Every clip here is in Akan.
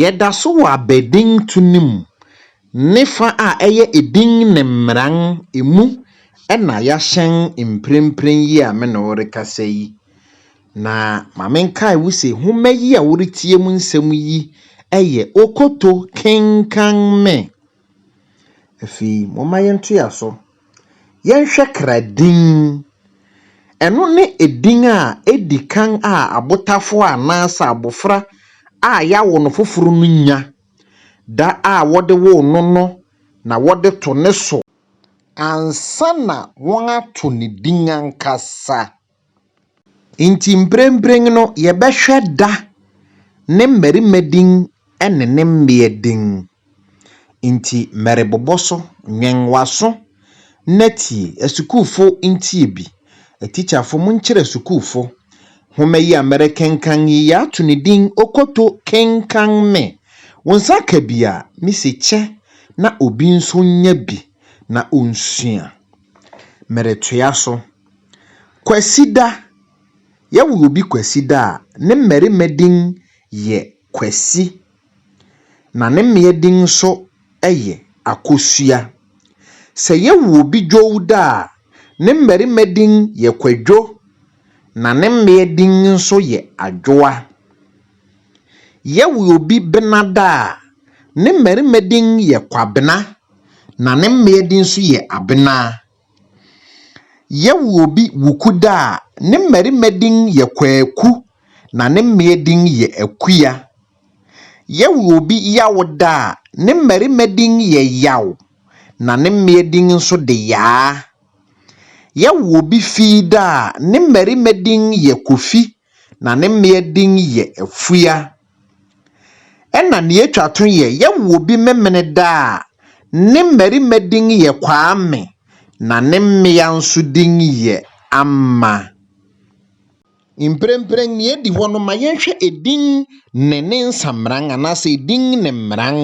Yɛda so wɔ abadinto no mu ne fa a ɛyɛ edin ne mmeran emu na yɛahyɛn mprempren yi a me ne wo rekasa yi. Na ma menkae wo se nhoma yi a woretie mu nsɛm yi yɛ Okoto Kenkan Me! Afei momma yɛntoa so. Yɛnhwɛ kra din. Ɛno ne edin a edi kan a abotafo anaasɛ abofra a yɛawo no foforo no nya. Da a wɔde woo no no na wɔde to ne so ansa na wɔato ne din ankasa. Enti mprempren no, yɛbɛhwɛ da ne mmarima din ne ne mmea din. Enti merebobɔ so, nwɛn w'aso na tie. Asukuufo ntie bi. Atikyafo monkyerɛ sukuufo. Nhoma yi a merekenkan yi, yɛato no din Okoto Kenkan Me. Wo nsa ka bi a, mise kyɛ na obi nso nya bi na onsua. Meretoa so. Kwasida, Yɛwo obi Kwasida a, ne mmarima din yɛ Kwasi, na ne mmea din nso yɛ Akosua. Sɛ yɛwo obi Dwowda a, ne mmarima din yɛ Kwadwo, na ne mmea din nso yɛ Adwoa. Yɛwo obi Benada a, ne mmarima din yɛ Kwabena, na ne mmea din nso yɛ Abena. Yɛworobi Wukudaa, ne mmarima din yɛ Kwaku na ne mmea din yɛ Akua. Yɛworobi Yawodaa, ne mmarima din yɛ Yaw na ne mmea din nso de Yaa. Yɛworobi Fiidaa, ne mmarima din yɛ Kofi na ne mmea din yɛ Afua. Ɛna nea etwa to yɛ yɛwo bi Memeneda a, ne mmarima din yɛ Kwame, na ne mmea nso din yɛ Amma. Mprempren nea edi hɔ no, ma yɛnhwɛ edin ne ne nsamran anaasɛ edin ne mmran.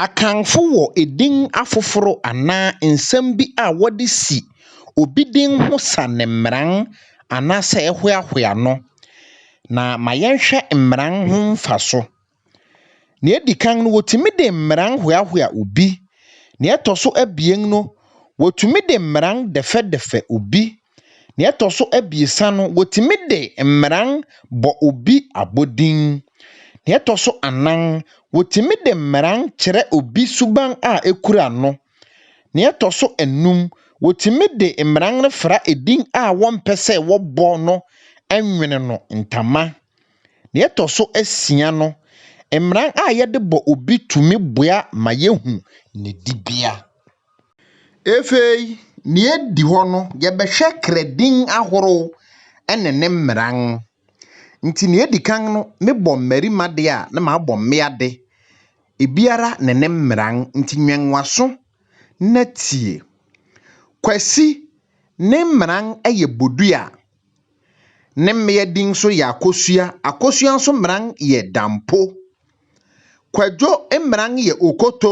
Akanfo wɔ edin afoforo anaa nsɛm bi a wɔde si obi din ho sa no mmeran anaasɛ ɛhoahoa no. Na ma yɛnhwɛ mmeran ho mfaso. Nea edi kan no, wotumi de mmeran hoahoa obi. Nea ɛtɔ so abien no, wotumi de mmeran dɛfɛdɛfɛ obi. Nea ɛtɔ so abiɛsa no, wɔtumi de mmeran bɔ obi abɔdin. Nea ɛtɔ so anan, wɔtumi de mmeran kyerɛ obi suban a ekura no. Nea ɛtɔ so anum, wɔtumi de mmeran no fra edin a wɔmpɛ sɛ wɔbɔ no nwene no ntama. Nea ɛtɔ so asia no, mmeran a yɛde bɔ obi tumi boa ma yehu ne dibea. Afei, nea edi hɔ no, yɛbɛhwɛ kra din ahorow ne ne mmeran. Nti nea edi kan no, mebɔ mmarima de a, na mabɔ mmea de, ebiara ne ne mmeran. Nti nwɛn w'aso na tie. Kwasi, ne mmeran yɛ bodua. Ne mmea din nso yɛ akosua. Akosua nso mmeran yɛ dampo. Kwadwo mmeran yɛ okoto.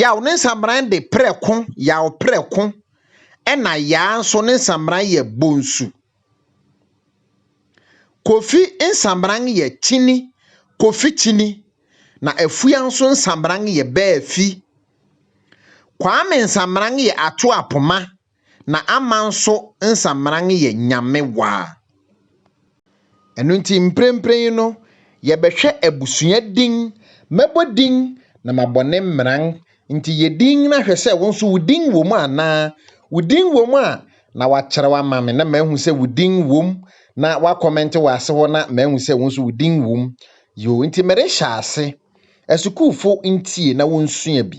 Yaw ne nsamran de prɛ ko yaw prɛ ko ɛna yaa nso ne nsamran yɛ bonsu. Kofi nsamran yɛ kyini kofi kyini na afua nso nsamran yɛ bɛɛ fi. Kwame nsamran yɛ ato apoma na ama nso nsammaran yɛ nyamewaa. Ɛno nti mprempren no yɛbɛhwɛ abusua din, mɛbɔ din na mabɔ ne mmaran nti yɛ din na hwɛ sɛ wo nso wo din wɔ mu anaa, wo din wɔ mu a na woakyerɛw ama me na mahu sɛ wo din wɔ mu na woakɔmɛnte wɔ ase hɔ na mahu sɛ wo nso wo din wɔ mu. Yoo, nti merehyɛ ase. Asukuufo ntie na wonsua bi.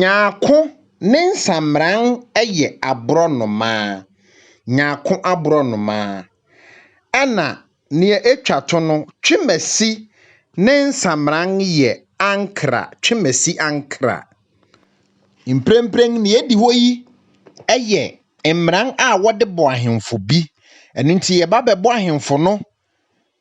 Nyarko ne nsamran yɛ aborɔnoma, nyarko aborɔnoma. Ɛna nea etwa to no, twemasi ne nsamran yɛ ankra, twemasi ankra. Mprempren nea edi hɔ yi yɛ mmran a wɔde bɔ ahemfo bi. Ɛno nti yɛba bɛbɔ ahemfo no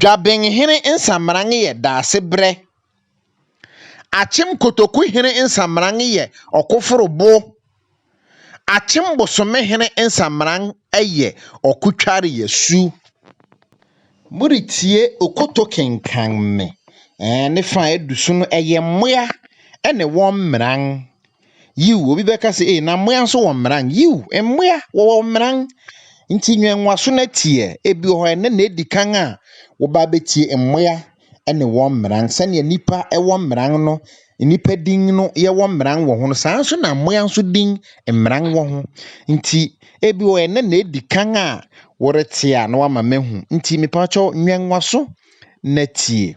Dwabenhene nsamran yɛ Daasebrɛ. Akyem Kotoku hene nsamran yɛ Ɔkoforobo. Akyem Bosome hene nsamran yɛ Ɔkotwareasu. Moretie Okoto kenkan me. Ɛɛ ne fa a ɛdu so no, ɛyɛ mmoa ne wɔn mmran. Yiw, obi bɛka sɛ, Ei, na mmoa nso wɔ mmran. Yiw, mmoa wɔwɔ mmran. Nti nwɛnwaso no ateɛ. Ebi wɔ hɔ ɛnnɛ na edi kan a woba abetie mmoa ne wɔn mmran. Sɛnea nnipa wɔ mmran no, nnipa din no yɛwɔ mmran wɔ ho no, saa nso na mmoa nso din mmran wɔ ho. Nti ebi wɔ hɔ ɛnnɛ na edi kan a worete a na wama mahu. Nti mepawkyɛw nwɛnwaso na tie.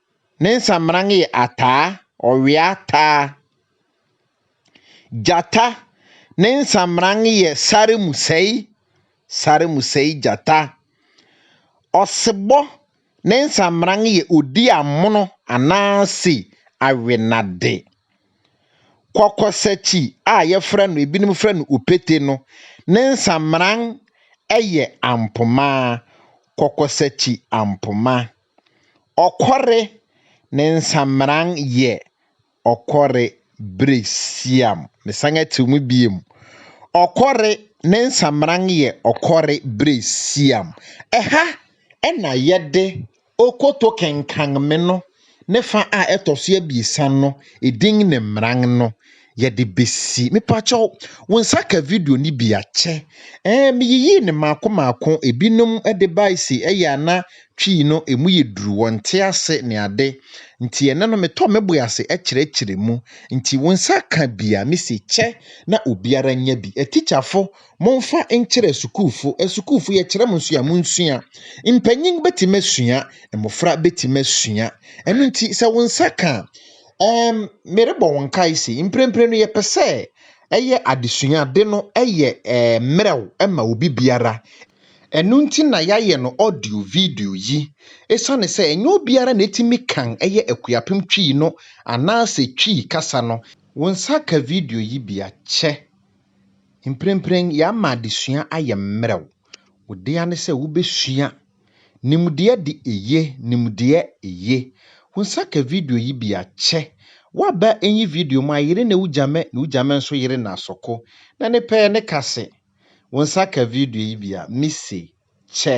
Ne nsamena yɛ ataa, ɔwea taa. Gyata, ne nsamena yɛ sare mu sɛe, sare mu sɛe gyata. Ɔsebɔ, ne nsamena yɛ odi amono anaase awenade. Kɔkɔsakyi a yɛfrɛ no, ebinom frɛ no opete no, ne nsamena yɛ ampoma, kɔkɔsakyi ampoma. Ɔkɔre ne nsamran yɛ ɔkɔre bere siam. Mesan atiw mu biom. Ɔkɔre ne nsamran yɛ ɔkɔre bere siam. Ɛha na yɛde okoto kenkanme no ne fa a ɛtɔ so abiɛsa no din ne mmran no. yɛde besi. Mepakyɛw, wo nsa ka video no bi a, kyɛ. Ɛɛ, miyiyii no mmaako mmaako. Ebinom de bae se ɛyɛ a na Twi no emu yɛ duru, wɔnte ase, ne ade. Nti ɛnnɛ no metɔ me bo ase kyerɛkyerɛ mu. Nti wo nsa ka bi a, mise kyɛ na obiara nya bi. Atikyafo, momfa nkyerɛ sukuufo. Asukuufo, yɛkyerɛ mo nso a, munsua. Mpanyin betumi asua, mmofra betumi asua. Ɛno nti, sɛ wo nsa ka a, Ɛɛm, merebɔ wo nkae se, mprempren no yɛpɛ sɛ ɛyɛ adesua de no yɛ ɛɛm mmerɛw ma obi biara. Ɛno nti na yɛayɛ no audio video yi, esiane sɛ ɛnyɛ obiara na etumi kan yɛ Akuapem Twi no anaasɛ Twi kasa no. Wo nsa ka video yi bi a, kyɛ. Mprempren yɛama adesua ayɛ mmerɛw. Wo dea ne sɛ wubesua. Nimdeɛ de eye Nimdeɛ eye Hu sa ka video yi bi a kyɛ Wa ba enyi video mu a yere na ugya mɛ na ugya mɛ nso yere na soko na ne pɛɛ ne ka se Wo nsa ka video yi bi a me se kyɛ